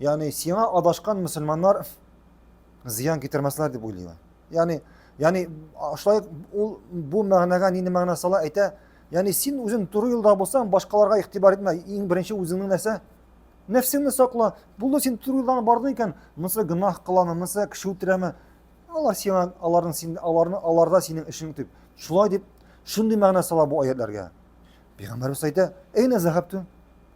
Ягъни сиңа адашкан мөселманнар зыян китермәсләр дип уйлый. Ягъни, ягъни шулай ул бу мәгънәгә нинди мәгънә сала әйтә? Ягъни син үзең туры юлда булсаң, башкаларга игътибар итмә. Иң беренче үзеңнең нәрсә? Нәфсеңне сакла. Булды син туры юлдан бардың икән, монысы гөнаһ кыламы, монысы кеше үтерәме? Алар сиңа аларның син аларны аларда синең эшең дип. Шулай дип шундый мәгънә сала бу аятларга. Пәйгамбәрбез әйтә: "Әйнә зәһәптү?"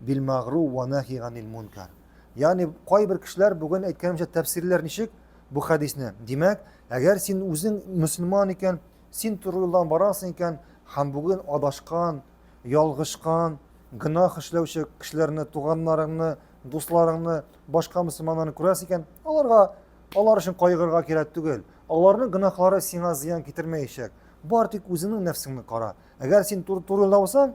Билмагру уә нәхи ганил мункар. Ягъни кайбер кешеләр бүген әйткәнемчә тәфсирләр ничек бу хәдисне? Димәк, әгәр син үзең мөселман икән, син туры юлдан барасың икән һәм бүген адашкан, ялгышкан, гөнаһ эшләүче кешеләрне, туганнарыңны, дусларыңны, башка мөселманнарны күрәсең икән, аларга алар өчен кайгырырга кирәк түгел. Аларның гөнаһлары сиңа зыян китермәячәк. Бар тик үзеңнең нәфсеңне кара. Әгәр син туры юлда булсаң,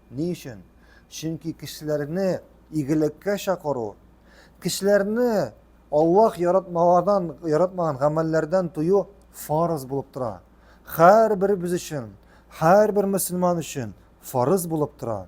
Ни өчен? Чөнки кешеләрне игелеккә чакыру, кешеләрне Аллаһ яратмаганнан, яратмаган гамәлләрдән тыю фарыз булып тора. Һәрберебез өчен, һәрбер мөселман өчен фарыз булып тора.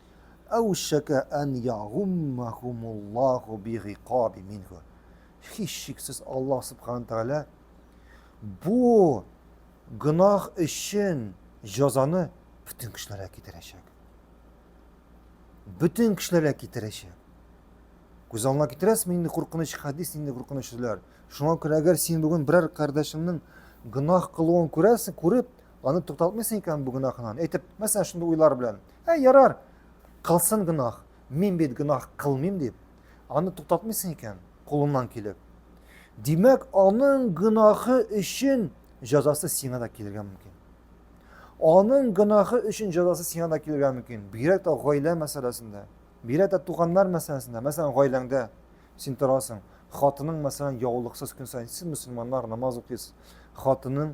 Әүшәкә ән ягуммәһумуллаһу бигыйкаби минһу. Һичшиксез Аллаһ Субхана Тәгалә бу гөнаһ өчен җазаны бөтен кешеләргә китерәчәк. Бөтен кешеләргә китерәчәк. Күз алдына китерәсезме инде куркыныч хәдис, инде куркыныч сүзләр. Шуңа күрә әгәр син бүген берәр кардәшеңнең гөнаһ кылуын күрәсең, күреп, Аны тукталтмыйсың икән бу гөнаһыңнан. Әйтеп, мәсәлән, шундый уйлар белән. Ә ярар, кылсын гөнаһ. Мин бит гөнаһ кылмыйм дип. Аны тукталтмыйсың икән кулыңнан килеп. Димәк, аның гөнаһы өчен җәзасы сиңа да килергә мөмкин. Аның гөнаһы өчен җәзасы сиңа да килергә мөмкин. Бигрәк тә гаилә мәсьәләсендә, бигрәк тә туганнар мәсьәләсендә, мәсәлән, гаиләңдә син торасың, хатының мәсәлән яулыксыз көн сайын сез мөселманнар намаз укыйсыз хатының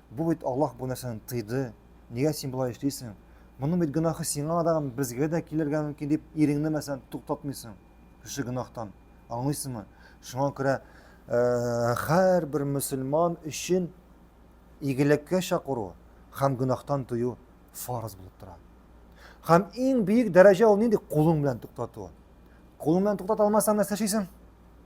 Бу бит Аллаһ бу нәрсәне тыйды, нигә син болай эшлисең? Моның бит гөнаһы сиңа да, безгә дә килергә мөмкин дип, иреңне мәсәлән туктатмыйсың шушы гөнаһтан. Аңлыйсыңмы? Шуңа күрә һәрбер мөселман өчен игелеккә чакыру һәм гөнаһтан тыю фарыз булып тора. Һәм иң бөек дәрәҗә ул нинди? Кулың белән туктату. Кулың белән туктата алмасаң, нәрсә эшлисең?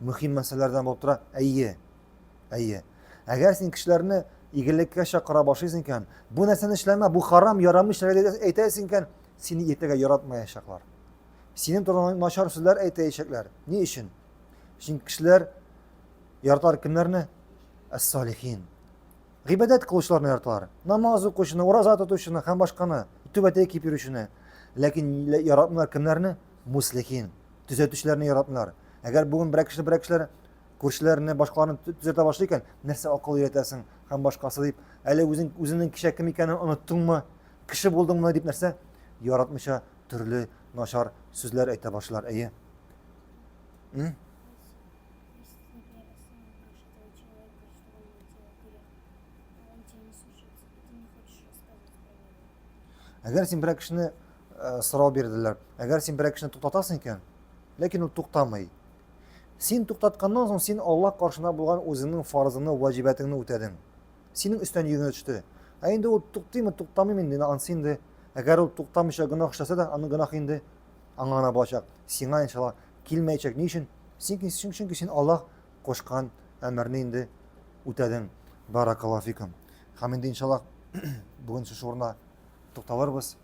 Мөһим мәсьәләләрдән булып тора. Әйе. Әйе. Әгәр син кешеләрне игелеккә чакыра башлыйсың икән, бу нәрсәне эшләмә, бу харам, ярамый эшләргә әйтәсең икән, сине иртәгә яратмаячаклар. Синең турыңа начар сүзләр әйтәячәкләр. Ни өчен? Чөнки кешеләр яратар кемнәрне? Әс-салихин. Гыйбадәт кылучыларны яраталар. Намаз укучыны, ураза тотучыны һәм башканы, түбәтәй киеп йөрүчене. Ләкин яратмыйлар кемнәрне? Муслихин. төзәтүчеләрне яратмыйлар. Әгәр бүген берәр кеше берәр кешеләр күршеләрне башкаларны төзәтә башлый икән, нәрсә акыл өйрәтәсең һәм башкасы дип, әле үзең үзеңнең кичә кем икәнен оныттыңмы? Кеше булдыңмы дип нәрсә? Яратмыйча төрле начар сүзләр әйтә башлар, әйе. Әгәр син берәр кешене сорау бирделәр. Әгәр син берәр кешене туктатасың икән, ләкин ул туктамый. Син туктатканнан соң син Аллаһ каршына булган үзеңнең фарызыңны, ваҗибәтеңне үтәдең. Синең өстән йөгенә төште. Ә инде ул туктыймы, туктамыймы инде, ансы инде. Әгәр ул туктамыйча гөнаһ эшләсә дә, аның гөнаһы инде аңа гына булачак. Сиңа иншалла килмәячәк. Ни өчен? Синки, чөнки син Аллаһ кушкан әмерне инде үтәдең. Баракаллаһу фикум. Һәм инде иншалла бүген шушы урында тукталырбыз.